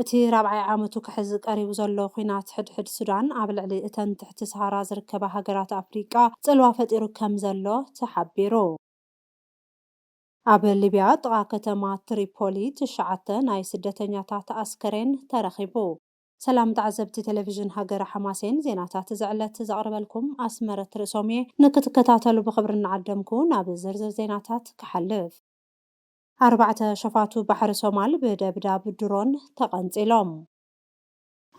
እቲ ራብዓይ ዓመቱ ክሕዝ ቀሪቡ ዘሎ ኲናት ሕድሕድ ሱዳን፣ ኣብ ልዕሊ እተን ትሕቲ ሰሃራ ዝርከባ ሃገራት ኣፍሪቃ ጽልዋ ፈጢሩ ከምዘሎ ተሓቢሩ። ኣብ ሊብያ ጥቓ ከተማ ትሪፖሊ ትሽዓተ ናይ ስደተኛታት ኣስከሬን ተረኺቡ። ሰላም ተዓዘብቲ ቴሌቪዥን ሃገረ ሓማሴን፣ ዜናታት እዚ ዕለት ዘቕርበልኩም ኣስመረት ርእሶም'የ። ንክትከታተሉ ብኽብሪ እናዓደምኩ ናብ ዝርዝር ዜናታት ክሓልፍ። ኣርባዕተ ሸፋቱ ባሕሪ ሶማል ብደብዳብ ድሮን ተቐንጺሎም።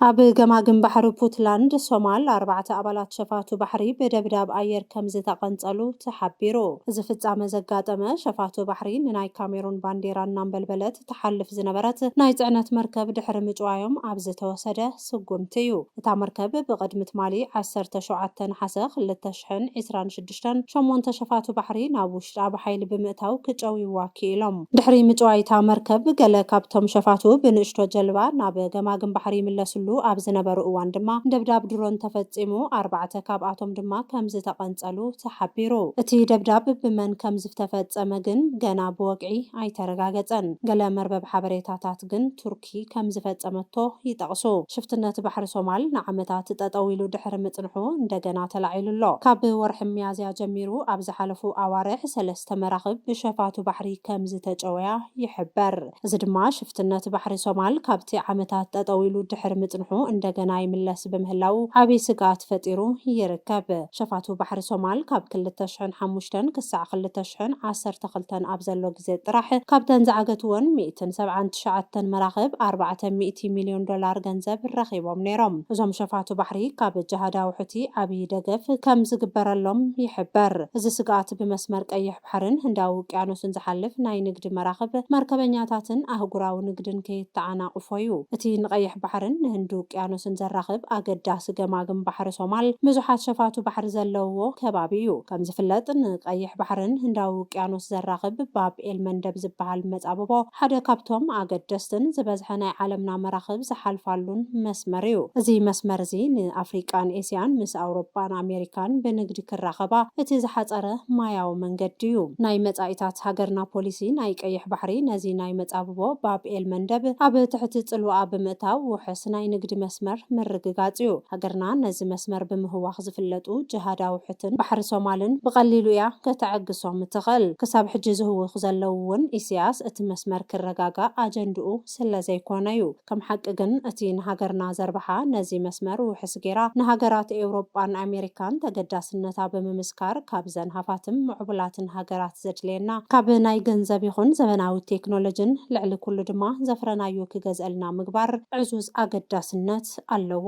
ኣብ ገማግም ባሕሪ ፑትላንድ ሶማል ኣርባዕተ ኣባላት ሸፋቱ ባሕሪ ብደብዳብ ኣየር ከምዝተቐንጸሉ ተሓቢሩ። እዚ ፍጻመ ዘጋጠመ፣ ሸፋቱ ባሕሪ ንናይ ካሜሩን ባንዴራ እናንበልበለት ትሓልፍ ዝነበረት ናይ ጽዕነት መርከብ ድሕሪ ምጭዋዮም ኣብ ዝተወሰደ ስጉምቲ እዩ። እታ መርከብ ብቕድሚ ትማሊ ዓሰርተ ሸውዓተ ነሓሰ ክልተ ሽሕን ዒስራን ሽዱሽተን፣ ቤተክርስትያን ሸሞንተ ሸፋቱ ባሕሪ ናብ ውሽጣ ብሓይሊ ብምእታው ክጨውይዋ ክኢሎም። ድሕሪ ምጭዋይታ መርከብ ገለ ካብቶም ሸፋቱ ብንእሽቶ ጀልባ ናብ ገማግም ባሕሪ ይምለስሉ ኣብ ዝነበሩ እዋን ድማ ደብዳብ ድሮን ተፈጺሙ ኣርባዕተ ካብኣቶም ድማ ከምዝተቐንጸሉ ተሓቢሩ። እቲ ደብዳብ ብመን ከምዝፍተፈጸመ ግን ገና ብወግዒ ኣይተረጋገጸን። ገለ መርበብ ሓበሬታታት ግን ቱርኪ። ሽርኪ ከም ዝፈጸመቶ ይጠቕሱ። ሽፍትነት ባሕሪ ሶማል ንዓመታት ጠጠው ኢሉ ድሕሪ ምጽንሑ እንደገና ተላዒሉ ኣሎ። ካብ ወርሒ ሚያዝያ ጀሚሩ ኣብ ዝሓለፉ ኣዋርሕ ሰለስተ መራኽብ ብሸፋቱ ባሕሪ ከም ዝተጨወያ ይሕበር። እዚ ድማ ሽፍትነት ባሕሪ ሶማል ካብቲ ዓመታት ጠጠው ኢሉ ድሕሪ ምጽንሑ እንደገና ይምለስ ብምህላዉ ዓቢ ስግኣት ፈጢሩ ይርከብ። ሸፋቱ ባሕሪ ሶማል ካብ ክልተ ሽሕን ሓሙሽተን ክሳዕ ክልተ ሽሕን ዓሰርተ ክልተን ኣብ ዘሎ ግዜ ጥራሕ ካብተን ዝዓገትወን ሚእትን ሰብዓን ትሽዓተን መራኽብ ኣርባዕተ ሚእቲ ሚልዮን ዶላር ገንዘብ ረኺቦም ነይሮም። እዞም ሸፋቱ ባሕሪ ካብ ጅሃዳዊ ሑቲ ዓብዪ ደገፍ ከም ዝግበረሎም ይሕበር። እዚ ስግኣት ብመስመር ቀይሕ ባሕርን ህንዳዊ ውቅያኖስን ዝሓልፍ ናይ ንግዲ መራኽብ፣ መርከበኛታትን ኣህጉራዊ ንግድን ከየተዓናቕፎ'ዩ። እቲ ንቀይሕ ባሕርን ንህንዲ ውቅያኖስን ዘራኽብ ኣገዳሲ ገማግም ባሕሪ ሶማል፣ ብዙሓት ሸፋቱ ባሕሪ ዘለውዎ ከባቢ'ዩ። ከምዝፍለጥ ንቀይሕ ባሕርን ህንዳዊ ውቅያኖስ ዘራኽብ ባብ ኤል-መንደብ ዝበሃል መጻብቦ፣ ሓደ ካብቶም ኣገደስትን ዝበዝሐ ናይ ዓለምና መራኽብ ዝሓልፋሉን መስመር እዩ። እዚ መስመር እዚ ንኣፍሪቃን ኤስያን ምስ ኣውሮጳን ኣሜሪካን ብንግዲ ክራኸባ እቲ ዝሓጸረ ማያዊ መንገዲ እዩ። ናይ መጻኢታት ሃገርና ፖሊሲ ናይ ቀይሕ ባሕሪ ነዚ ናይ መጻብቦ ባብ ኤል መንደብ ኣብ ትሕቲ ጽልዋኣ ብምእታው ውሕስ ናይ ንግዲ መስመር ምርግጋጽ እዩ። ሃገርና ነዚ መስመር ብምህዋኽ ዝፍለጡ ጅሃዳዊ ሑትን ባሕሪ ሶማልን ብቐሊሉ እያ ከተዐግሶም እትኽእል። ክሳብ ሕጂ ዝህውኹ ዘለዉ እውን ኢሲያስ እቲ መስመር ክረጋጋእ ኣጀንድኡ ስለ ዘይኮነ እዩ። ከም ሓቂ ግን እቲ ንሃገርና ዘርብሓ ነዚ መስመር ውሕስ ገይራ ንሃገራት ኤውሮጳን ኣሜሪካን ተገዳስነታ ብምምስካር ካብዘን ሃፋትም ምዕቡላትን ሃገራት ዘድልየና ካብ ናይ ገንዘብ ይኹን ዘበናዊ ቴክኖሎጅን ልዕሊ ኩሉ ድማ ዘፍረናዮ ክገዝእልና ምግባር ዕዙዝ ኣገዳስነት ኣለዎ።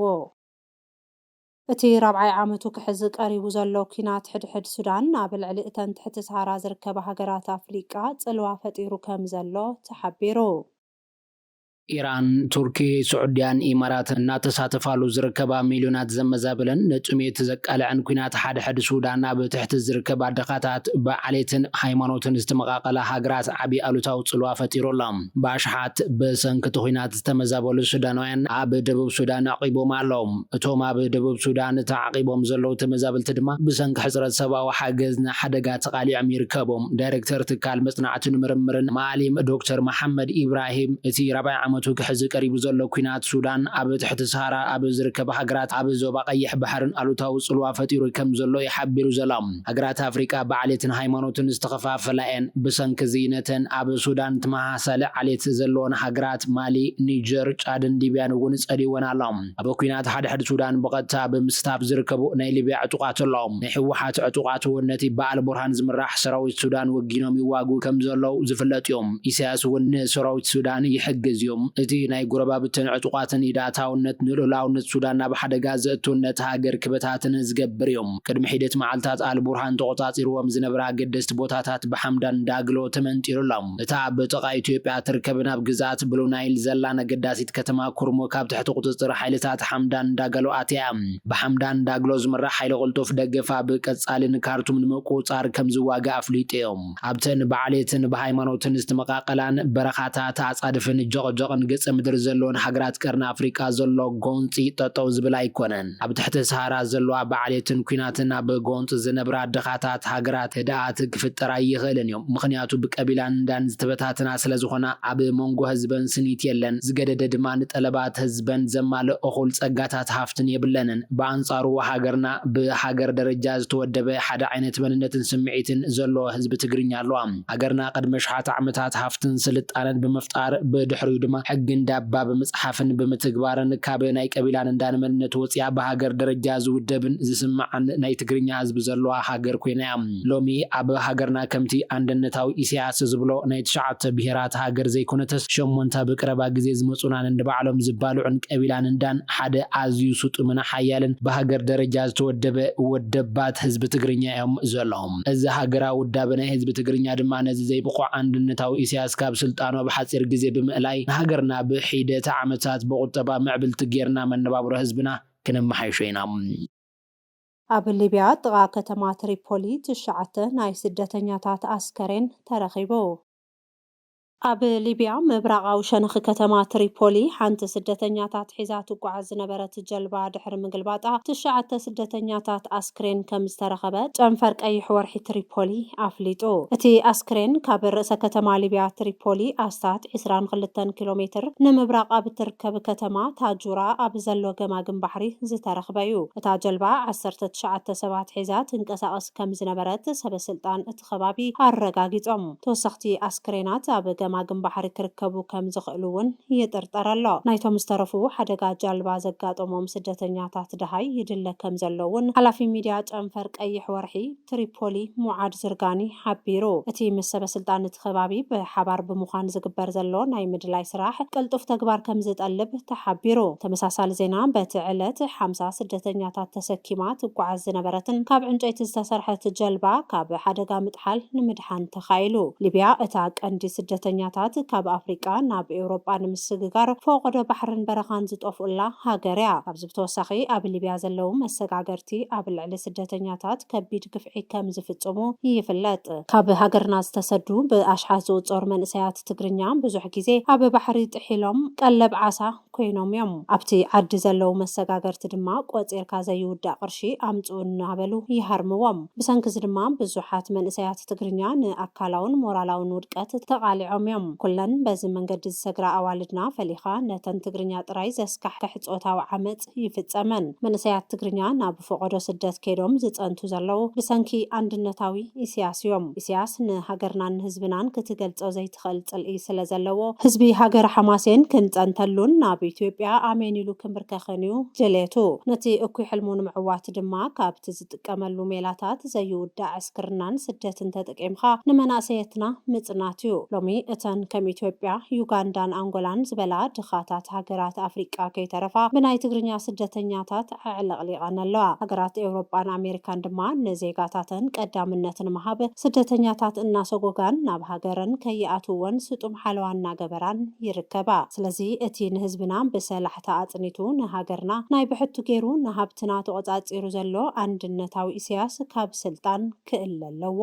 እቲ ራብዓይ ዓመቱ ክሕዝ ቀሪቡ ዘሎ ኲናት ሕድሕድ ሱዳን፣ ኣብ ልዕሊ እተን ትሕቲ ሰሃራ ዝርከባ ሃገራት ኣፍሪቃ ጽልዋ ፈጢሩ ከም ዘሎ ተሓቢሩ። ኢራን፣ ቱርኪ፣ ስዑድያን ኢማራትን እናተሳተፋሉ ዝርከባ ሚልዮናት ዘመዛበለን ንጥሜት ዘቃልዐን ኲናት ሓድሕድ ሱዳን ኣብ ትሕቲ ዝርከባ ድኻታት፣ ብዓሌትን ሃይማኖትን ዝተመቓቐላ ሃገራት ዓቢ ኣሉታዊ ጽልዋ ፈጢሩ ኣሎ። ብኣሽሓት ብሰንኪ እቲ ኲናት ዝተመዛበሉ ሱዳናውያን ኣብ ደቡብ ሱዳን ኣዕቚቦም ኣለዉ። እቶም ኣብ ደቡብ ሱዳን ተዓቚቦም ዘለዉ ተመዛበልቲ ድማ ብሰንኪ ሕጽረት ሰብኣዊ ሓገዝ ንሓደጋ ተቓሊዖም ይርከቡ። ዳይረክተር ትካል መጽናዕትን ምርምርን ማኣሊም ዶክተር መሓመድ ኢብራሂም፣ እቲ ራብዓይ ዓመቱ ክሕዝ ቀሪቡ ዘሎ ኲናት ሱዳን ኣብ ትሕቲ ሰሃራ ኣብ ዝርከባ ሃገራት ኣብ ዞባ ቀይሕ ባሕርን ኣሉታዊ ጽልዋ ፈጢሩ ከም ዘሎ'ዩ ሓቢሩ ዘሎ። ሃገራት ኣፍሪቃ ብዓሌትን ሃይማኖትን ዝተኸፋፈላ'የን፣ ብሰንኪ'ዚ ነተን ኣብ ሱዳን ትመሃ። ሰለ ዓሌት ዘለወን ሃገራት ማሊ፣ ኒጀር፣ ጫድን ሊብያን እውን ጸሊእወን ኣሎ። ኣብ ኩናት ሓድሕድ ሱዳን ብቐጥታ ብምስታፍ ዝርከቡ ናይ ሊብያ ዕጡቓት ኣለዉ። ናይ ህወሓት ዕጡቓት እውን ነቲ ብኣልቡርሃን ዝምራሕ ሰራዊት ሱዳን ወጊኖም ይዋግኡ ከም ዘለዉ ዝፍለጥ እዩ። ኢሳያስ እውን ንሰራዊት ሱዳን ይሕግዝ እዩ። እቲ ናይ ጎረባብትን ዕጡቓትን ኢድ ኣታውነት ንልኡላውነት ሱዳን ናብ ሓደጋ ዘእቱን ነታ ሃገር ክበታትንን ዝገብር እዩ። ቅድሚ ሒደት መዓልታት ኣልቡርሃን ተቖጻጺርዎም ዝነበረ ኣገደስቲ ቦታታት ብሓምዳን ዳግሎ ተመንጢሩ ኣሎ። እታ ኣብ ጥቓ ኢትዮጵያ እትርከብን ኣብ ግዝኣት ብሉ ናይል ዘላን ኣገዳሲት ከተማ ኩርሙክ ኣብ ትሕቲ ቁጽጽር ሓይልታት ሓምዳን ዳጋሎ ኣትያ። ብሓምዳን ዳግሎ ዝምራሕ ሓይሊ ቅልጡፍ ደገፍ ኣብ ቀጻሊ ንካርቱም ንምቁጽጻር ከም ዝዋጋእ ኣፍሊጡ'ዩ። ኣብተን ብዓሌትን ብሃይማኖትን ዝተመቓቐላን በረኻታት ኣጻድፍን ጀቕጀቕን ገጸ ምድሪ ዘለወን ሃገራት ቀርኒ ኣፍሪቃ ዘሎ ጎንጺ ጠጠው ዝብል ኣይኮነን። ኣብ ትሕቲ ሰሃራ ዘለዋ ብዓሌትን ኩናትን ኣብ ጎንጽ ዝነብራ ድኻታት ሃገራት ህድኣት ክፍጠር ኣይኽእልን እዩ ምኽንያቱ ብቀቢላን እንዳን ዝተበታትና ስለ ዝኾና ኣብ ሞንጎ ህዝበን ስኒት የለን ዝገደደ ድማ ንጠለባት ህዝበን ዘማልእ እኹል ጸጋታት ሃፍትን የብለንን ብኣንጻሩ ሃገርና ብሃገር ደረጃ ዝተወደበ ሓደ ዓይነት መንነትን ስምዒትን ዘሎዎ ህዝቢ ትግርኛ ኣሎዋ። ሃገርና ቅድሚ ኣሽሓት ዓመታት ሃፍትን ስልጣነን ብምፍጣር ብድሕሪኡ ድማ ሕጊ እንዳባ ብምፅሓፍን ብምትግባርን ካብ ናይ ቀቢላን እንዳን መንነት ወፂኣ ብሃገር ደረጃ ዝውደብን ዝስማዕን ናይ ትግርኛ ህዝቢ ዘለዋ ሃገር ኮይና እያ። ሎሚ ኣብ ሃገርና ከምቲ ኣንደነታዊ ኢሰያስ ዝብሎ ናይ ትሽዓተ ብሄራት ሃገር ዘይኮነተስ ሸሞንተ ኣብ ቅረባ ግዜ ዝመፁና ነንባዕሎም ዝባልዑን ቀቢላን እንዳን ሓደ ኣዝዩ ስጡምን ሓያልን ብሃገር ደረጃ ዝተወደበ ወደባት ህዝቢ ትግርኛ እዮም ዘለዉ። ኣርእዮም። እዚ ሃገራዊ ውዳበ ናይ ህዝቢ ትግርኛ ድማ ነዚ ዘይብቑዕ ኣንድነታዊ ኢሳያስ ካብ ስልጣኑ ኣብ ሓጺር ግዜ ብምእላይ ንሃገርና ብሒደት ዓመታት ብቑጠባ ምዕብልቲ ጌርና መነባብሮ ህዝብና ክነመሓይሾ ኢና። ኣብ ሊብያ ጥቓ ከተማ ትሪፖሊ ትሽዓተ ናይ ስደተኛታት ኣስከሬን ተረኺቡ። ኣብ ሊብያ ምብራቓዊ ሸነኽ ከተማ ትሪፖሊ፣ ሓንቲ ስደተኛታት ሒዛ ትጓዓዝ ዝነበረት ጀልባ ድሕሪ ምግልባጣ ትሽዓተ ስደተኛታት ኣስክሬን ከምዝተረኸበ ጨንፈር ቀይሕ ወርሒ ትሪፖሊ ኣፍሊጡ። እቲ ኣስክሬን ካብ ርእሰ ከተማ ሊብያ ትሪፖሊ ኣስታት ዕስራን ክልተን ኪሎ ሜትር ንምብራቕ ኣብ እትርከብ ከተማ ታጁራ ኣብ ዘሎ ገማግም ባሕሪ ዝተረኽበ'ዩ። እታ ጀልባ ዓሰርተ ትሽዓተ ሰባት ሒዛ ትንቀሳቐስ ከምዝነበረት ሰበስልጣን እቲ እቲ ከባቢ ኣረጋጊጾም። ተወሰኽቲ ኣስክሬናት ኣብ ገማግም ባሕሪ ክርከቡ ከም ዝኽእሉ እውን ይጥርጠር ኣሎ። ናይቶም ዝተረፉ ሓደጋ ጃልባ ዘጋጠሞም ስደተኛታት ደሃይ ይድለ ከም ዘሎ እውን ሓላፊ ሚድያ ጨንፈር ቀይሕ ወርሒ ትሪፖሊ ሙዓድ ዝርጋኒ ሓቢሩ። እቲ ምስ ሰበስልጣን እቲ ከባቢ ብሓባር ብምዃን ዝግበር ዘሎ ናይ ምድላይ ስራሕ ቅልጡፍ ተግባር ከም ዝጠልብ ተሓቢሩ። ተመሳሳሊ ዜና በቲ ዕለት ሓምሳ ስደተኛታት ተሰኪማ ትጓዓዝ ዝነበረትን ካብ ዕንጨይቲ ዝተሰርሐት ጀልባ ካብ ሓደጋ ምጥሓል ንምድሓን ተኻኢሉ። ሊብያ እታ ቀንዲ ስደተኛታት ካብ ኣፍሪቃ ናብ ኤውሮጳ ንምስግጋር ፈቖዶ ባሕርን በረኻን ዝጠፍኡላ ሃገር እያ። ካብዚ ብተወሳኺ ኣብ ሊብያ ዘለዉ መሰጋገርቲ ኣብ ልዕሊ ስደተኛታት ከቢድ ግፍዒ ከም ዝፍጽሙ ይፍለጥ። ካብ ሃገርና ዝተሰዱ ብኣሽሓት ዝቑጸሩ መንእሰያት ትግርኛ ብዙሕ ግዜ ኣብ ባሕሪ ጥሒሎም ቀለብ ዓሳ፣ ኮይኖም እዮም። ኣብቲ ዓዲ ዘለዉ መሰጋገርቲ ድማ ቆጺርካ ዘይውዳእ ቅርሺ ኣምጽኡ እናበሉ ይሃርምዎም። ብሰንኪ'ዚ ድማ ብዙሓት መንእሰያት ትግርኛ ንኣካላውን ሞራላውን ውድቀት ተቓሊዖም እዮም። ኩለን በዚ መንገዲ ዝሰግራ ኣዋልድና ፈሊኻ ነተን ትግርኛ ጥራይ ዘስካሕክሕ ጾታዊ ዓመጽ ይፍጸመን። መንእሰያት ትግርኛ ናብ ፎቖዶ ስደት ከይዶም ዝጸንቱ ዘለዉ ብሰንኪ ኣንድነታዊ ኢሲያስ እዮም። ኢሲያስ ንሃገርናን ንህዝብናን ክትገልጾ ትኽእል ጽልኢ ስለ ዘለዎ፣ ህዝቢ ሃገረ ሓማሴን ክንጸንተሉን ናብ ኢትዮጵያ ኣሜን ኢሉ ክንብርከኽን እዩ ድሌቱ። ነቲ እኩይ ሕልሙ ንምዕዋት ድማ፣ ካብቲ ዝጥቀመሉ ሜላታት ዘይውዳእ ዕስክርናን ስደትን ተጠቂምካ ንመናእሰየትና ምጽናት እዩ። ሎሚ እተን ከም ኢትዮጵያ፣ ዩጋንዳን ኣንጎላን ዝበላ ድኻታት ሃገራት ኣፍሪቃ ከይተረፋ ብናይ ትግርኛ ስደተኛታት ኣዕለቕሊቐን ኣለዋ። ሃገራት ኤውሮጳን ኣሜሪካን ድማ ንዜጋታተን ቀዳምነት ንምሃብ ስደተኛታት እናሰጎጋን ናብ ሃገረን ከይኣትውወን ስጡም ሓለዋ እናገበራን ይርከባ። ስለዚ እቲ ንህዝብና ብሰላሕታ ኣጽኒቱ ንሃገርና ናይ ብሕቱ ገይሩ ንሃብትና ተቖጻጺሩ ዘሎ ኣንድነታዊ ኢሰያስ ካብ ስልጣን ክእለ ኣለዎ።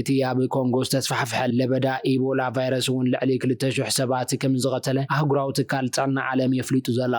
እቲ ኣብ ኮንጎ ዝተስፋሕፍሐ ለበዳ ኢቦላ ቫይረስ እውን ልዕሊ ክልተ ሽሕ ሰባት ከምዝቐተለ ኣህጉራዊ ትካል ጥዕና ዓለም የፍሊጡ ዘሎ።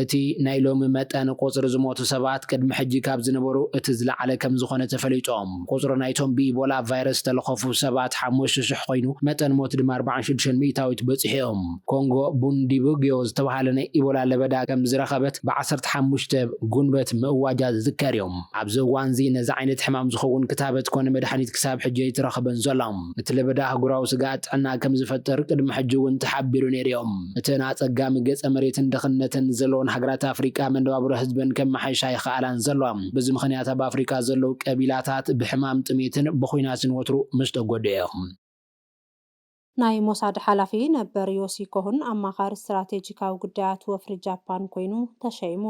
እቲ ናይ ሎሚ መጠን ቁጽሪ ዝሞቱ ሰባት ቅድሚ ሕጂ ካብ ዝነበሩ እቲ ዝለዓለ ከምዝኾነ ተፈሊጡ። ቁጽሪ ናይቶም ብኢቦላ ቫይረስ ዝተለኸፉ ሰባት ሓሙሽተ ሽሕ ኮይኑ መጠን ሞት ድማ ኣርብዓን ሽዱሽተን ሚእታዊት በጺሑ እዩ። ኮንጎ ቡንዲቡግዮ ዝተበሃለ ናይ ኢቦላ ለበዳ ከምዝረኸበት ብ ዓሰርተ ሓሙሽተ ጉንበት ምእዋጃ ዝዝከር እዩ። ኣብዚ እዋንዚ ነዚ ዓይነት ሕማም ዝኸውን ክታበት ኮነ መድሓኒት ክሳብ ሕጂ ኣይተረኽበን ዘሎ። እቲ ለበዳ ኣህጉራዊ ስግኣት ጥዕና ከም ዝፈጥር ቅድሚ ሕጂ እውን ተሓቢሩ ነይሩ እዩ። እተን ኣጸጋሚ ገጸ መሬትን ድኽነትን ዘለወን ሃገራት ኣፍሪቃ መነባብሮ ህዝበን ከመሓይሻ ኣይኸኣላን ዘለዋ። በዚ ምኽንያት ኣብ ኣፍሪቃ ዘለዉ ቀቢላታት ብሕማም ጥሜትን ብኹናትን ወትሩ ምስ ተጎድኡ እዮም። ናይ ሞሳድ ሓላፊ ነበር ዮሲ ኮሁን ኣማኻሪ ስትራቴጂካዊ ጉዳያት ወፍሪ ጃፓን ኮይኑ ተሸይሙ።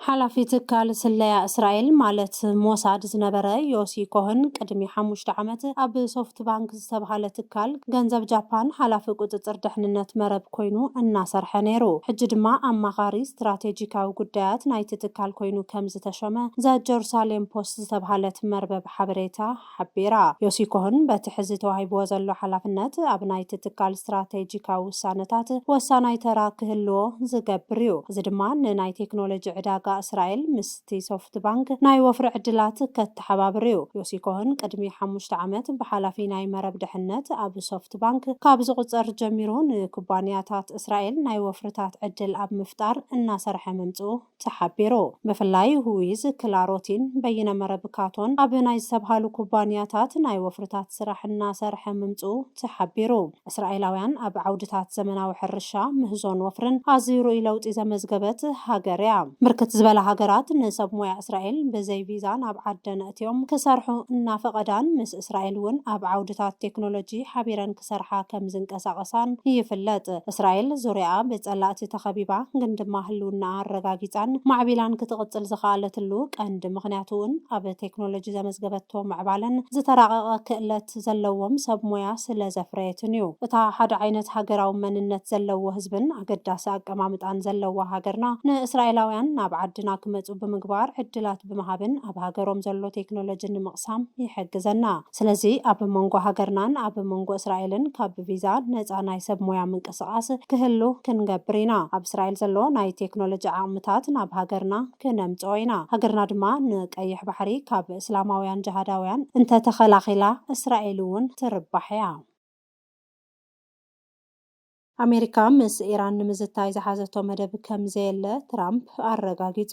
ሓላፊ ትካል ስለያ እስራኤል ማለት ሞሳድ ዝነበረ ዮሲ ኮህን ቅድሚ ሓሙሽተ ዓመት ኣብ ሶፍትባንክ ዝተብሃለ ትካል ገንዘብ ጃፓን ሓላፊ ቁጽጽር ድሕንነት መረብ ኮይኑ እናሰርሐ ነይሩ። ሕጂ ድማ ኣማኻሪ ስትራቴጂካዊ ጉዳያት ናይቲ ትካል ኮይኑ ከምዝተሾመ ዘ ጀሩሳሌም ፖስት ዝተብሃለት መርበብ ሓበሬታ ሓቢራ። ዮሲ ኮህን በቲ ሕዚ ተዋሂብዎ ዘሎ ሓላፍነት ኣብ ናይቲ ትካል ስትራቴጂካዊ ውሳነታት ወሳናይ ተራ ክህልዎ ዝገብር እዩ፣ እዚ ድማ ንናይ ቴክኖሎጂ ዕዳጋ እስራኤል ምስቲ ሶፍትባንክ ናይ ወፍሪ ዕድላት ከተሓባብር እዩ። ዮሲ ኮህን ቅድሚ ሓሙሽተ ዓመት ብሓላፊ ናይ መረብ ድሕነት ኣብ ሶፍትባንክ ካብ ዝቑጸር ጀሚሩ ንኩባንያታት እስራኤል ናይ ወፍርታት ዕድል ኣብ ምፍጣር እናሰርሐ ምምጽኡ ተሓቢሩ። ብፍላይ ሁዊዝ፣ ክላሮቲን፣ በይነ መረብ ካቶን ኣብ ናይ ዝተብሃሉ ኩባንያታት ናይ ወፍርታት ስራሕ እናሰርሐ ምምጽኡ ተሓቢሩ። እስራኤላውያን ኣብ ዓውድታት ዘመናዊ ሕርሻ፣ ምህዞን ወፍርን ኣዝዩ ርኡይ ለውጢ ዘመዝገበት ሃገር'ያ። ብርክት ዝበላ ሃገራት ንሰብ ሞያ እስራኤል ብዘይ ቪዛ ናብ ዓደን ኣእትዮም ክሰርሑ እናፈቐዳን ምስ እስራኤል እውን ኣብ ዓውድታት ቴክኖሎጂ ሓቢረን ክሰርሓ ከም ዝንቀሳቐሳን ይፍለጥ። እስራኤል ዙርያኣ ብጸላእቲ ተኸቢባ ግን ድማ ህልውናኣ ኣረጋጊጻን ማዕቢላን ክትቕጽል ዝኸኣለትሉ ቀንዲ ምኽንያት እውን ኣብ ቴክኖሎጂ ዘመዝገበቶ ምዕባለን ዝተራቐቐ ክእለት ዘለዎም ሰብ ሞያ ስለ ዘፍረየትን እዩ። እታ ሓደ ዓይነት ሃገራዊ መንነት ዘለዎ ህዝብን ኣገዳሲ ኣቀማምጣን ዘለዋ ሃገርና ንእስራኤላውያን ናብ ዓድና ክመጹ ብምግባር ዕድላት ብምሃብን ኣብ ሃገሮም ዘሎ ቴክኖሎጂ ንምቕሳም ንምፍጻም ይሕግዘና። ስለዚ ኣብ መንጎ ሃገርናን ኣብ መንጎ እስራኤልን ካብ ቪዛ ነጻ ናይ ሰብ ሞያ ምንቅስቓስ ክህሉ ክንገብር ኢና። ኣብ እስራኤል ዘሎ ናይ ቴክኖሎጂ ዓቕምታት ናብ ሃገርና ክነምጽኦ ኢና። ሃገርና ድማ ንቀይሕ ባሕሪ ካብ እስላማውያን ጅሃዳውያን እንተተኸላኺላ እስራኤል'ውን ትርባሕ እያ። ኣሜሪካ ምስ ኢራን ንምዝታይ ዝሓዘቶ መደብ ከምዘየለ ትራምፕ ኣረጋጊጹ።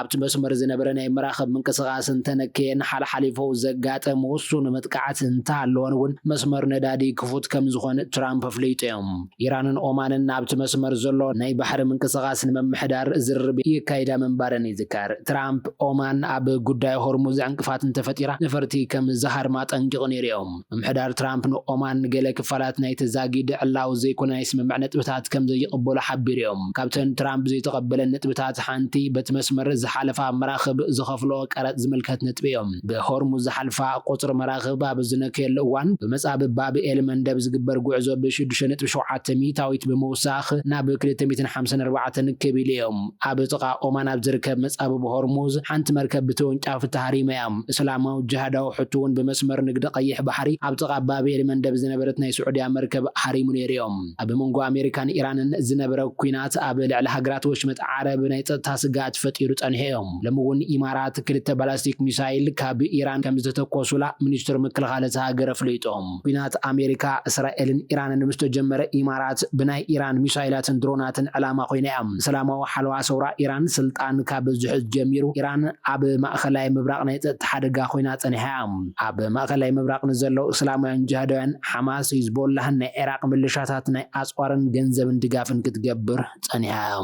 ኣብቲ መስመር ዝነበረ ናይ መራኽብ ምንቅስቓስ እንተነከየን ሓልሓሊፉ ዘጋጥም ውሱን መጥቃዕቲ እንተሃለወን እውን መስመር ነዳዲ ክፉት ከምዝኾን ትራምፕ ኣፍሊጦም። ኢራንን ኦማንን ኣብቲ መስመር ዘሎ ናይ ባሕሪ ምንቅስቓስ ንምምሕዳር ዝርርብ የካይዳ ምንባረን ይዝከር። ትራምፕ ኦማን ኣብ ጉዳይ ሆርሙዝ ዕንቅፋት እንተፈጢራ ነፈርቲ ከምዝሃርም ኣጠንቂቑ ነይሩ እዩ። ምምሕዳር ትራምፕ ንኦማን ንገለ ክፋላት ናይቲ ዛጊድ ዕላዊ ዘይኮነ ናይ ስምምዕ ነጥብታት ከም ዘይቕበሉ ሓቢሮም። ካብተን ትራምፕ ዘይተቐበለን ነጥብታት ሓንቲ በቲ መስመር ዝሓለፋ መራኽብ ዝኸፍልኦ ቀረጽ ዝምልከት ነጥቢ'ዩ። ብሆርሙዝ ዝሓልፋ ቁጽሪ መራኽብ ኣብ ዝነከየሉ እዋን ብመጻብብ ባብ ኤል መንደብ ዝግበር ጉዕዞ ብ ሽዱሽተ ነጥቢ ሸውዓተ ሚእታዊት ብምውሳኽ ናብ ክልተ ሚእትን ሓምሳን ኣርባዕተን ክብ ኢሉ'ዩ። ኣብ ጥቓ ኦማን ኣብ ዝርከብ መጻብብ ሆርሙዝ ሓንቲ መርከብ ብተወንጫፊ ተሃሪማ'ያ። እስላማዊ ጅሃዳዊ ሑቲ ውን ብመስመር ንግዲ ቀይሕ ባሕሪ ኣብ ጥቓ ባብ ኤል መንደብ ዝነበረት ናይ ስዑድያ መርከብ ሃሪሙ ነይሩ እዮ። ኣብ መንጎ ኣሜሪካን ኢራንን ዝነበረ ኲናት ኣብ ልዕሊ ሃገራት ወሽመጥ ዓረብ ናይ ጸጥታ ስግኣት ፈጢሩ ጸኒሑ እዮ። ሎሚ ውን ኢማራት ክልተ ባላስቲክ ሚሳይል ካብ ኢራን ከምዝተተኮሱላ ሚኒስትር ምክልኻል እታ ሃገር ኣፍሊጡ። ኲናት ኣሜሪካ፣ እስራኤልን ኢራንን ምስ ተጀመረ፣ ኢማራት ብናይ ኢራን ሚሳይላትን ድሮናትን ዕላማ ኮይና'ያ። ሰላማዊ ሓለዋ ሰውራ ኢራን ስልጣን ካብ ዝሕዝ ጀሚሩ፣ ኢራን ኣብ ማእከላይ ምብራቕ ናይ ጸጥታ ሓደጋ ኮይና ጸኒሓ'ያ። ኣብ ማእከላይ ምብራቕ ንዘለዉ እስላማውያን ጂሃዳውያን፣ ሓማስ፣ ሂዝቦላህን ናይ ዒራቕ ምልሻታት ናይ ኣጽዋርን ገንዘብን ድጋፍን ክትገብር ጸኒሓ'ያ።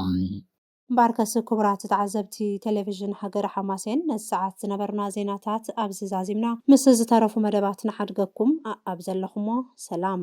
እምበኣርከስ ክቡራት ተዓዘብቲ ቴሌቪዥን ሃገረ ሓማሴን ነዚ ሰዓት ዝነበርና ዜናታት ኣብዚ ዛዚምና ምስ ዝተረፉ መደባት ንሓድገኩም ኣኣብ ዘለኹሞ ሰላም።